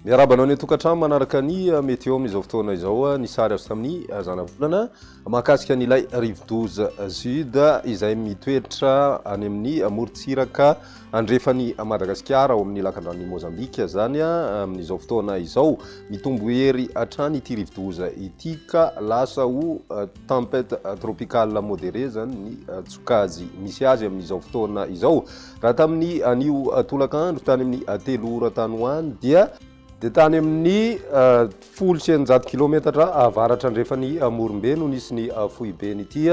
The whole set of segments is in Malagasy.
Miarahaba anao ny tokantrano manaraka ny eh, météo amin'izao fotoana izao eh, ny sary azo tamin'ny eh, zanavolana mahakasika an'ilay rivodoza sud izay mitoetra any amin'ny morontsiraka Andrefan'i Madagasikara ao amin'ny lakandranon'i Mozambika izany amin'izao fotoana izao. Mitombo hery hatrany ity rivodoza ity ka lasa ho tempête tropicale modérée izany ny tsokajy misy azy amin'izao fotoana izao. Raha tamin'ny anio tolakandro tany amin'ny telo ora tany ho any dia dia tany amin' ny folo sy eninjato kilometatra avaratra andrefan' i Morombe no nisy ny foiben' ity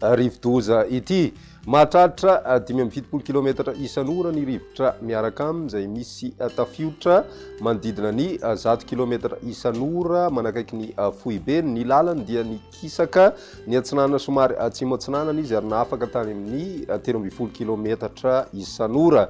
rivodoza ity. Mahatratra dimy amby fitopolo kilometatra isan' ora ny rivotra miaraka aminy, izay misy tafiotra manodidina ny zato kilometatra isan' ora manakaiky ny foibeny. Ny lalany dia nikisaka niatsinanana somary atsimo-atsinanana izy ary nafaka tany amin' ny telo ambin'ny folo kilometatra isan' ora.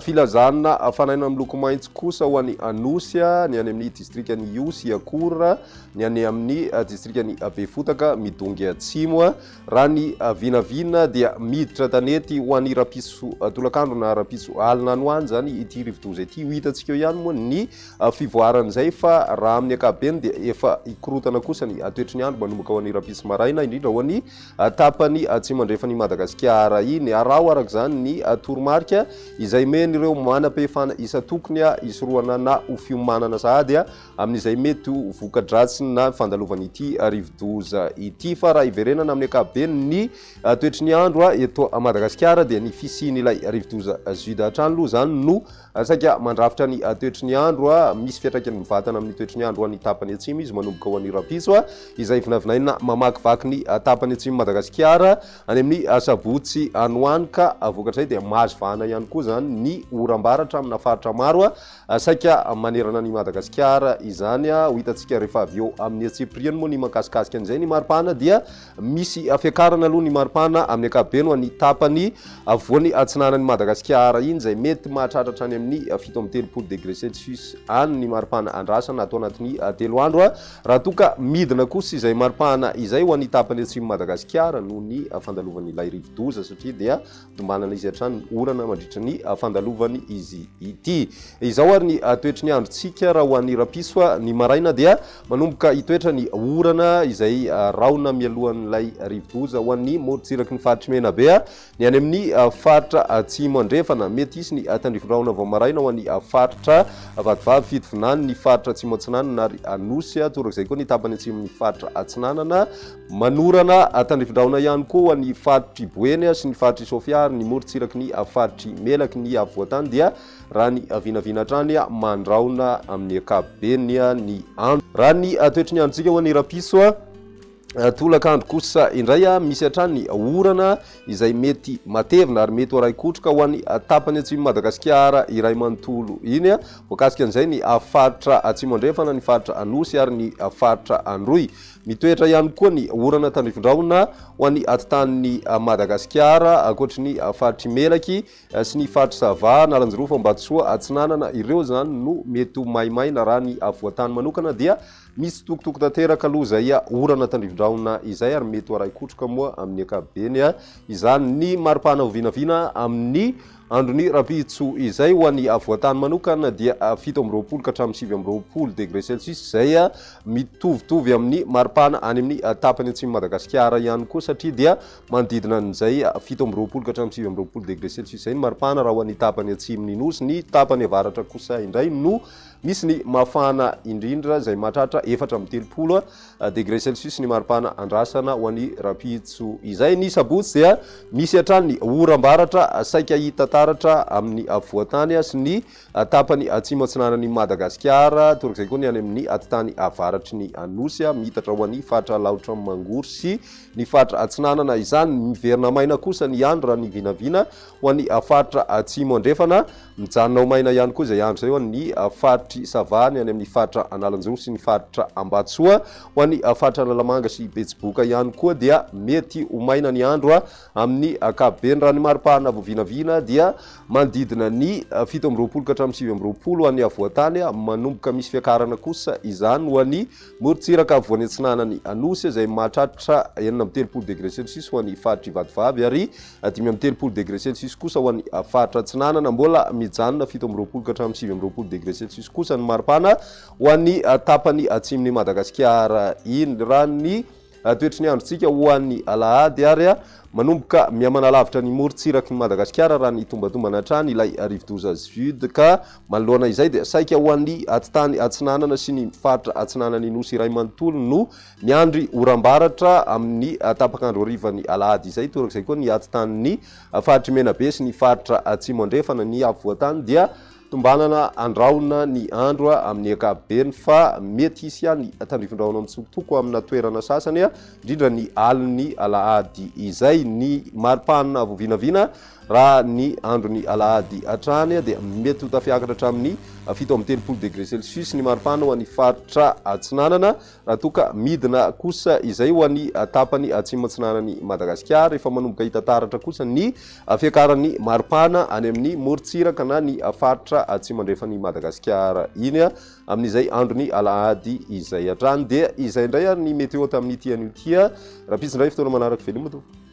Filazana fanaina miloko maitso kosa ho an'i Anosy, ny any amin'ny distrikan'i Ihosy, Iakour, ny any amin'ny distrikan'i Befotaka, Midongy Atsimo. Raha ny vinavina dia miditra tanety ho an'ny rahampitso tolakandro na rahampitso alina any ho any izany ity rivodoza ity. Ho hitantsika eo ihany moa ny fivoaran'izay fa raha amin'ny ankapobeny dia efa hikorotana kosa ny toetry ny andro manomboka ho an'ny rahampitso maraina, indrindra ho an'ny tapany atsimo andrefan'i Madagasikara iny. Araho araka izany ny toromarika izay men'ireo manam-pehefana isan-tokony hisorohana na ho fiomanana sahady amin'izay mety ho voka-dratsiny na ny fandalovan'ity rivodoza ity. Fa raha hiverenana amin'ny ankapobeny ny toetry ny andro eto Madagasikara dia ny fisian'ilay rivodoza Jude hatrany aloha izany no Saika mandrafitra ny toetry ny andro. Misy fiantraikany mivatana amin'ny toetry ny andro ho an'ny tapany atsimo izy manomboka ho an'ny rahampitso, izay vinavinaina mamakivaky ny tapany atsimon'i Madagasikara any amin'ny asabotsy any ho any ka vokatrizay dia mahazo vahana ihany koa izany ny oram-baratra amina faritra maro saika manerana an'i Madagasikara izany. Ho hitantsika rehefa avy eo amin'ny antsipiriany moa ny mankasikasika an'izay. Ny mari-pahana dia Misy fiakarana aloha ny maripana amin'ny ankapobeny ho an'ny tapany afovoany atsinanan'i Madagasikara iny izay mety mahatratra hatrany amin'ny fito amby telopolo degré celsius any ny maripana andrasana ato anatin'ny telo andro raha toa ka midina kosa izay maripana izay ho an'ny tapany atsimon'i Madagasikara noho ny fandalovan'ilay rivodoza satria dia Tombanana izy hatrany ny orana mandritra ny fandalovany izy ity. Izao ary ny toetry ny androntsika raha ho an'ny rapiso, ny maraina dia manomboka hitoetra ny orana izay rahona mialohan'ilay rivodoza ho an'ny morontsiraky ny faritr'i Menabe, ny any amin'ny faritra atsimo andrefana. Mety hisy ny tandrifondrahona vao maraina ho an'ny faritra Vatovavy, Fitovinany, ny faritra atsimo atsinanana ary Anosy, torak'izay koa ny tapany atsimon'ny faritra atsinanana. Manorana tandrifindrahona ihany koa ny faritr'i Boeny sy ny faritr'i Sofia ary ny morontsiraky ny faritr'i Melaky ny afovoan-tany dia raha ny vinavina hatrany mandrahona amin'ny ankapobeny ny andro. Raha ny toetry ny androntsika ho an'i Rapiso, tolakandro kosa indray misy hatrany orana izay mety matevina ary mety ho arahin-kotroka ho an'ny tapany atsimon'i Madagasikara iray manontolo iny. Voakasika an'izay ny faritra Atsimo Andrefana, ny faritra Anosy ary ny faritra Androy. Mitoetra ihany koa ny orana tandrifindrahona ho an'ny atitan'ny Madagasikara, ankoatry ny faritr'i Melaky sy ny faritr'i Sava, Analanjirofo, Ambatosoa Atsinanana ireo izany no mety ho maimaina raha ny afovoan-tany manokana dia mitsitokotoko tanteraka aloha izay orana tandrifindrahona izay ary mety ho arahin-kotroka moa amin'ny ankapobeny izany ny mari-pahana ho vinavina amin'ny Andron'i Rabitso. Izay ho an'ny avoantany manokana dia fito amby roapolo ka hatramin'ny sivy amby roapolo degré celsius izay mitovitovy amin'ny maripana any amin'ny tapany atsimon'i Madagasikara ihany koa satria dia manodidina an'izay fito amby roapolo ka hatramin'ny sivy amby roapolo degré celsius izay ny maripana raha ho an'ny tapany atsimon'ny Nosy. Ny tapany avaratra kosa indray no misy ny mafana indrindra izay mahatratra efatra amby telopolo degré celsius ny maripana andrasana ho an'i Rampitso izay. Ny sabotsy dia misy hatrany ny oram-baratra saika hita taratra amin'ny afovoan-tany sy ny tapany atsimo-atsinanan'i Madagasikara, torak'izay koa ny any amin'ny atitany avaratry ny Anosy, miitatra ho an'ny faritra Alaotra Mangoro sy ny faritra Atsinanana. Izany miverina maina kosa ny andro raha ny vinavina Ho an'ny faritra Atsimo Andrefana, mijanona ho maina ihany koa izay andro izay ho an'ny faritr'i Sava, ny any amin'ny faritra Analanjoro sy ny faritra Ambatsoa. Ho an'ny faritra Analamanga sy Betsiboka ihany koa dia mety ho maina ny andro amin'ny ankapobeny. Raha ny mari-pahana vao vinavina dia manodidina ny fito amby roapolo ka hatramin'ny sivy amby roapolo ho an'ny afovoan-tany, manomboka misy fiakarana kosa izany ho an'ny morontsiraka afovoany atsinanan'ny Anosy izay mahatratra enina amby telopolo degre celsius ho an'ny faritr'i Vatovavy ary Dimy amby telopolo degre celsius kosa ho an'ny faritra Atsinanana. Mbola mijanona fito amby roapolo ka hatramin'ny sivy amby roapolo degre celsius kosa ny maripana ho an'ny tapany atsimon'i Madagasikara. Iny raha ny toetry ny androntsika ho an'ny alahady ary manomboka mihamana lavitra ny morontsiraky ny Madagasikara raha ny tombatombana hatrany ilay rivodoza Svyud ka manoloana izay dia saika ho an'ny atitany atsinanana sy ny faritra atsinanan'ny nosy iray manontolo no Miandry oram-baratra amin'ny tapak'andro harivan'ny alahady izay, torak'izay koa ny atitan'ny faritr'i Menabe sy ny faritra Atsimo Andrefana. Ny afovoan-tany dia tombanana andrahona ny andro amin'ny ankapobeny fa mety hisy ihany tandrifindrahona mitsokotoko amina toerana sasany indrindra ny alin'ny alahady izay. Ny mari-panina vao vinavina raha ny andron'ny alahady hatrany dia mety ho tafiakatra hatramin'ny fito amby telopolo degre celsius ny mari-panina ho an'ny faritra Atsinanana. Raha toa ka midina kosa izay ho any tapany atsimo-atsinanan'i Madagasikara, efa manomboka hita taratra kosa ny fiakaran'ny maripana any amin'ny morontsiraka na ny faritra atsimo-andrefan'i Madagasikara iny, amin'izay andron'ny alahady izay. Hatrany dia izay indray ary ny météo tamin'ity anio ity. Rahampitso indray fotoana manaraka, veloma tompoko.